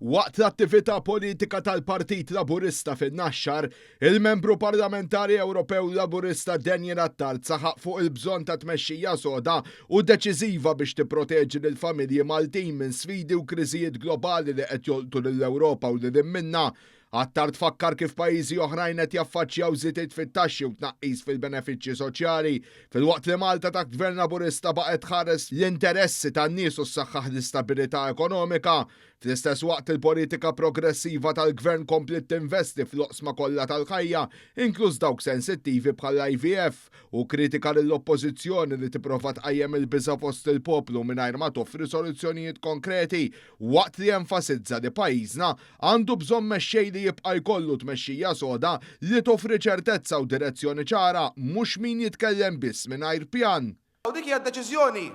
Waqt l-attività politika tal-Partit Laburista fin-Naxxar, il-Membru Parlamentari Ewropew Laburista Daniel Attard saħaq fuq il-bżonn ta' tmexxija soda u deċiżiva biex tipproteġi lill-familji Maltin minn sfidi u kriżijiet globali li qed jolqtu lill-Ewropa u lil hinn minnha Attar tfakkar kif pajjiżi oħrajn qed jaffaċċjaw żidiet fit-taxxi u tnaqqis fil-benefiċċji soċjali, filwaqt li Malta taħt Gvern Laburista baqgħet tħares l-interessi tan-nies u ssaħħaħ l-istabilità ekonomika. Fl-istess waqt il-politika progressiva tal-Gvern kompliet tinvesti fl-oqsma kollha tal-ħajja, inkluż dawk sensittivi bħall-IVF, u kkritika lill-Oppożizzjoni li tipprova tqajjem il-biża' fost il-poplu mingħajr ma toffri soluzzjonijiet konkreti waqt li enfasizza li pajjiżna għandu bżonn mexxej li jibqa' jkollu tmexxija soda li toffri ċertezza u direzzjoni ċara mhux min jitkellem biss mingħajr pjan. U dik hija d-deċiżjoni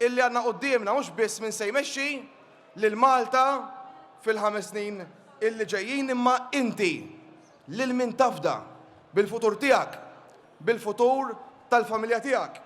illi għandna quddiemna mhux biss min se jmexxi lil Malta fil-ħames snin illi ġejjin imma inti lil min tafda bil-futur tiegħek, bil-futur tal-familja tiegħek.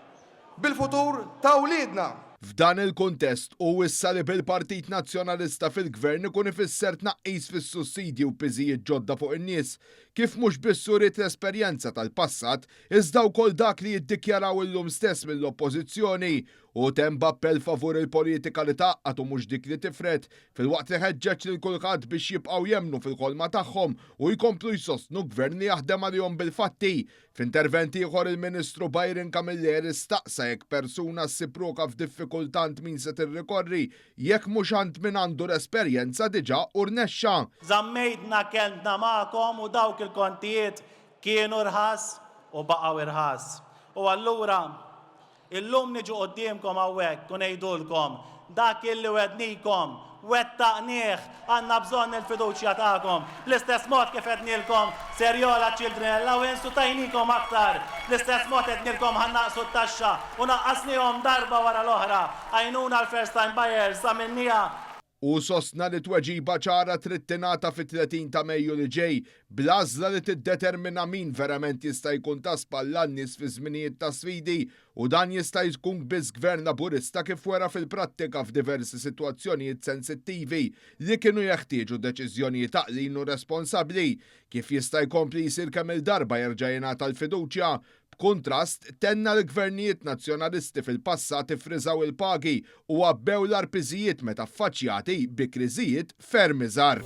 bil-futur ta' wliedna. F'dan il-kuntest, hu wissa li bil-Partit Nazzjonalista fil-Gvern ikun ifisser tnaqqis fis-sussidji u piżijiet ġodda fuq in-nies, kif mhux biss uriet l-esperjenza tal-passat, iżda wkoll dak li jiddikjaraw illum stess mill-Oppożizzjoni. Hu temm b'appell favur il-politika li tgħaqqad u mhux dik li tifred, filwaqt li ħeġġeġ lil kulħadd biex jibqgħu jemmnu fil-ħolma tagħhom u jkomplu jsostnu Gvern li jaħdem għalihom bil-fatti, F'intervent ieħor il-Ministru Byron Camilleri staqsa jekk persuna ssib ruħha f'diffikultà għand min se tirrikorri jekk mhux għand min għandu l-esperjenza diġà u rnexxa. Żammejdna kelmtna magħkom u dawk il-kontijiet kienu rħas u baqgħu rħas. U allura Illum niġu quddiemkom hawnhekk u ngħidulkom, dak illi wegħdnikom, wettaqnieh! Għandna bżonn il-fiduċja tagħkom. Bl-istess mod kif għednielkom ser jogħla ċ-children allowance u tajnikom aktar, bl-istess mod għednielkom ħa nnaqqsu t-taxxa u naqqasniehom darba wara l-oħra. Għajnuna għall-first time buyers għamilniha. Hu sostna li tweġiba ċara trid tingħata fit-30 ta' Mejju li ġej, bl-għażla li tiddetermina min verament jista' jkun ta' spalla għan-nies fi żminijiet ta' sfidi u dan jista' jkun biss Gvern Laburista kif wera fil-prattika f'diversi sitwazzjonijiet sensittivi li kienu jeħtieġu deċiżjonijiet għaqlin u responsabbli. Kif jista' jkompli jsir kemm-il darba jerġa' jingħata l-fiduċja B'kuntrast, tenna li gvernijiet Nazzjonalisti fil-passat iffriżaw il-pagi u għabbew l-agħar piżijiet meta ffaċċjati bi kriżijiet ferm iżgħar.